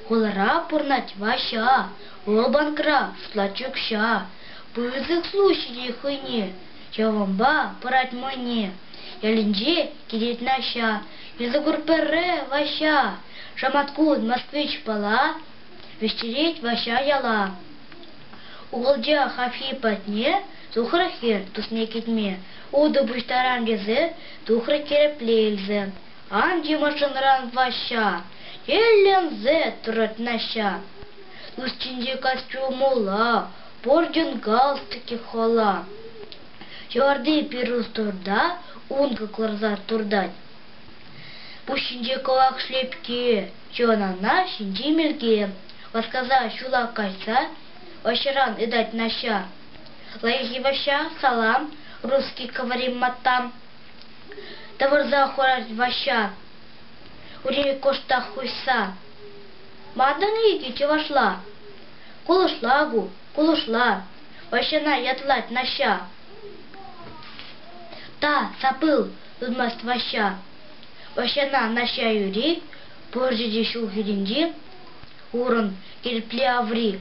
Хулара пурӑнать Ваҫҫа, вӑл банкра шутлать укҫа. Пысӑк служба ҫитет хӑйне, ҫавӑнпа пырать мӑйне. Ялӗнче килет Наҫҫа, Йысӑкур пӗрре Ваҫҫа. Шаматкун Москвич пала, вӗҫтерет Ваҫҫа яла. Укӑлча хапхи патне Тухрӗ-хӗр тусне кӗтме, утӑ пуҫтарам тесе тухрӗ Терӗпле илсе. Ан тимӗрчченран, Ваҫҫа, тӗлленсе тӑрать Наҫҫа. Устинче костюмулла, портин галстуки хала. Ҫӑварти пирус турта, ункӑ кӑларса туртать. Пуҫҫинче кӑвак шлепке, чӑнана ҫинчи мелке. Васкаса ҫула кайса, ӑҫран ытать Наҫҫа. Лайӑххи Ваҫҫа, салам, русский говорим маттам. Тӑвӑрса хурать Ваҫҫа, ури кӑштах хуҫса. Мантӑн икӗ чӑвашла. Кулӑшла ку, кулӑшла. Ваҫҫана ятлать Наҫҫа. Та сапыл, ытмасть Ваҫҫа. Ваҫҫана Наҫҫа юри, пӑрчӗ те ҫул хӳтӗнчи, урӑн, кирпле аври.